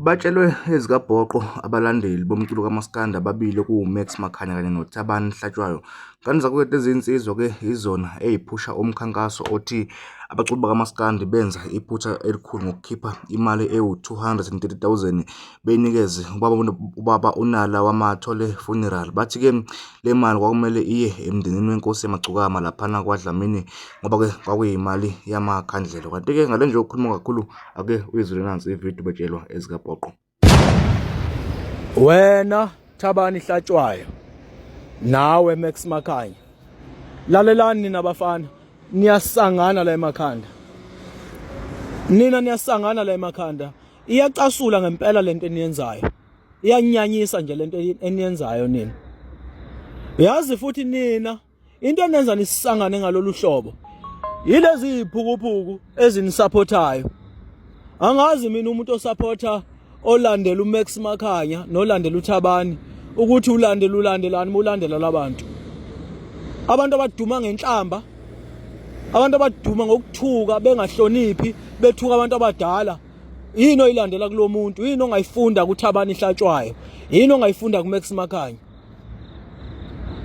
Batshelwe ezikabhoqo abalandeli bomculo kamaskandi ababili okuwuMax Makhanya kanye noThabani Hlatshwayo. Kanti zakwethu lezi nsizwa ke yizona eziphusha umkhankaso othi abaculi bakamaskandi benza iphutha elikhulu ngokukhipha imali ewu-230,000 beyinikeze ubaba, ubaba uNala wamathole funeral. Bathi ke le mali kwakumele iye emndenini wenkosi yamagcukama laphana kwaDlamini ngoba ke kwakuyimali yamakhandlela. Kanti ke ngale nje yokukhuluma kakhulu ake uyizwile nansi ividiyo betshelwa ezikapoqo wena thabani hlatshwayo nawe max makhanya lalelani nina bafana niyasangana la emakhanda nina niyasangana la emakhanda iyacasula ngempela lento eniyenzayo iyanyanyisa nje lento eniyenzayo nina yazi futhi nina Into enenza nisisangane ngalolu hlobo yilezi ziphukuphuku ezinisupportayo. Angazi mina umuntu osupporta olandela uMax Makhanya nolandela uThabani ukuthi ulandela ulandelani mulandela labantu. Abantu abaduma ngenhlamba abantu abaduma ngokuthuka bengahloniphi bethuka abantu abadala yini oyilandela kulomuntu yini ongayifunda kuThabani ihlatshwayo yini ongayifunda kuMax Makhanya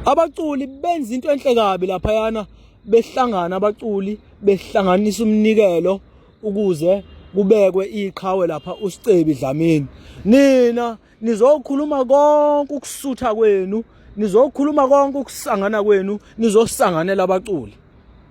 abaculi benza into enhle kabi laphayana behlangana abaculi behlanganisa umnikelo ukuze kubekwe iqhawe lapha usicebi dlamini nina nizokhuluma konke ukusutha kwenu nizokhuluma konke ukusangana kwenu nizosanganela abaculi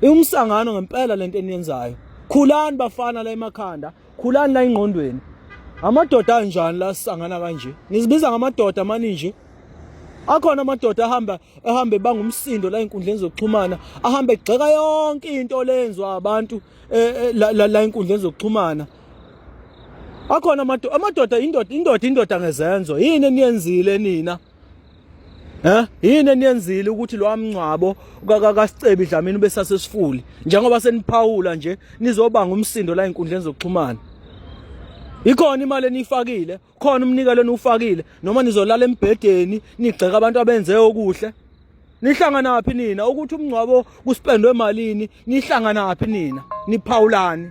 Iwumsangano ngempela lento eniyenzayo. Khulani bafana la emakhanda, khulani la ingqondweni. Amadoda anjani la sangana kanje? Nizibiza ngamadoda mani nje. Akhona amadoda ahamba ehambe bangumsindo la inkundleni zokuxhumana, ahambe egxeka yonke into lenzwa abantu eh, eh, la la inkundleni zokuxhumana. Akhona amadoda, amadoda indoda, indoda indoda ngezenzo. Yini eniyenzile nina? Eh yini eniyenzile ukuthi lo amngcwabo kakasicebi Dlamini besasesifuli njengoba seniphawula nje nizobanga umsindo la inkundleni zokuxhumana Ikhona imali enifakile, khona umnikelo eniwufakile noma nizolala embhedeni nigxeka abantu abenze okuhle. Nihlangana phi nina ukuthi umngcwabo kuspendwe malini? Nihlangana phi nina? Niphawulani?